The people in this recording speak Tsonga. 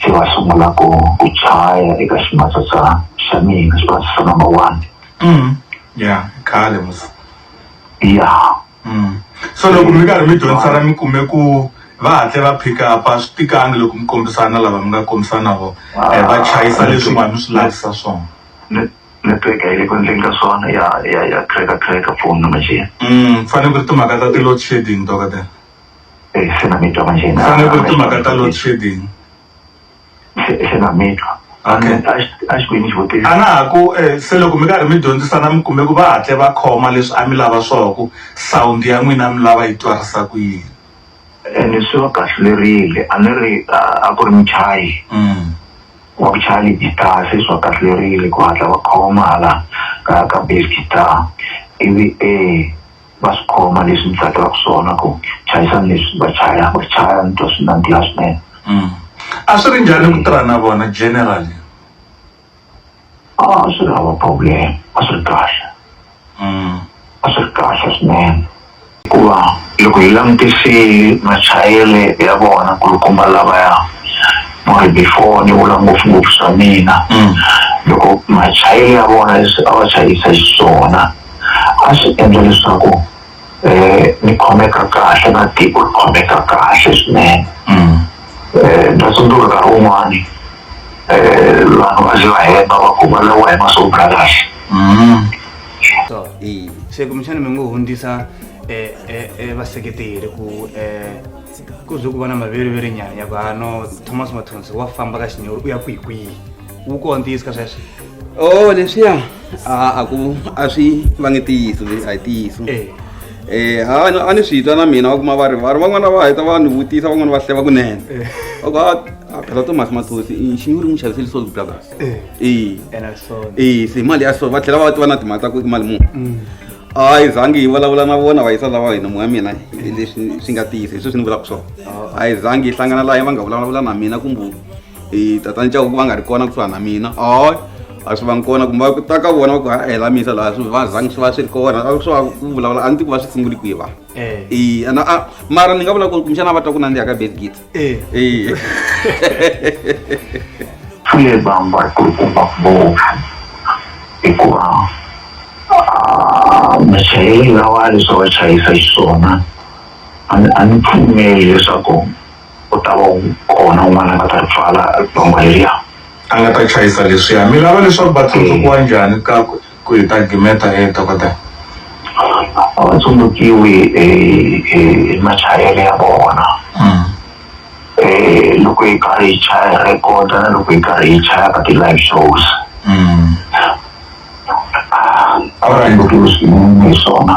se va sungula ku ku chaya eka ximatsatsa xa mina ximatsa xa number one mm. ya khale mos ya mm. so loko mi karhi mi dyondzisana mi kume ku va hatle va pick up a swi tikangi loko mi kombisana lava mi nga kombisana vo eh, va chayisa ah, leswi nga mi swi lavisa swona network a yi le ku endleni ka swona ya ya ya cracker cracker phone number xiya mm, fanele ku ri timhaka ta ti-load shedding dokotela Eh, xana mi twa manjheni a ni ku ri timhaka ta load shedding xana mi twa Okay. a xi- a xikwini xivutiso a na ha ku eh, se loko mi karhi mi dyondzisana mi kume ku va hatle va khoma leswi a mi lava swona ku sound ya n'wina mi lava yi twarisa ku yini ene swi va kahlulerile a ni ri a a ku ri muchayi Mm. wa ku chaya ligitara se swi va kahlulerile ku hatla va khoma hala ka ka bass guitar ivi e va swi khoma leswi ni tsakelaka swona ku chayisana leswi va chayaka ku ri chaya ni twa swi nandziha swinene mm. a swi ri njhani ku tirha na vona generally a swi ri hava problem a swi ri kahle mm. a swi ri kahle swinene hikuva loko hi langutisile machayele ya vona kulukumba lavaya mori before ni vula ngopfungopfu swa mina mm. loko machayele ya vona leswi a va chayisa xiswona a swi endla leswaku um ni khomeka kahle na tiko ri khomeka kahle swinene um na tsundzuka nkarhi wun'wani um vanhu va ze va hemba va ku va lawa hi maswo bula kahle so i se kumbexana mi ngo hundzisa um vaseketeri ku um ku ze ku va na maveriveri nyana ya ku hano thomas mathonsi wa famba ka xinyori u ya kwihi kwihi wu kona ntiyiso ka sweswo o oh, leswiya a a ku a swi va nge tiyiso leswi a hi tiyiso um eh. eh, ha a ni swi twa na mina va kuma va ri va ri van'wana va heta va ni vutisa van'wana va hleva kunene eh. va ku a phela tomasi mathosi xinyi ri n'wi xaviseli salt brothers e e se mali ya so va tlhela va tiva na timali ta ku i mali muni mm. a yi zangi yi vulavula na vona va yisa lava hina moya mina leswi swi nga tiyisa hi sweswi ni vulaka swona a yi zangi yi hlangana laha va nga vulavula na mina kumbe e tatani cavo ku va nga ri kona kusuhani na mina oy a swi vangi kona kumbe ku ta ka vona va ku ha hela misa laha swi va zangi swi va swi ri kona a swi va ku vulavula a ni ti ku va swi sunguli kwihi va eh. e ana a mara ni nga vula ku ri kumbexana va twa ku nandziha ka bed git e eh. swi vamba ku ri kumba ngopfu hikuva ah, machayeri lawa leswi va chayisa xiswona a ni pfumeli leswaku Ku ta va kona un'wana a nga ta ri pfala dongo leriya. A nga ta chayisa leswiya. Mi lava leswaku va tsundzukiwa njhani ka ku hi ta gimeta e dokodela? A va tsundzukiwi hi hi hi machayele ya vona. Loko hi karhi hi chaya hi rhekhoda na loko hi karhi hi chaya ka ti-live shows. A va tsundzukiwi swinene hi swona.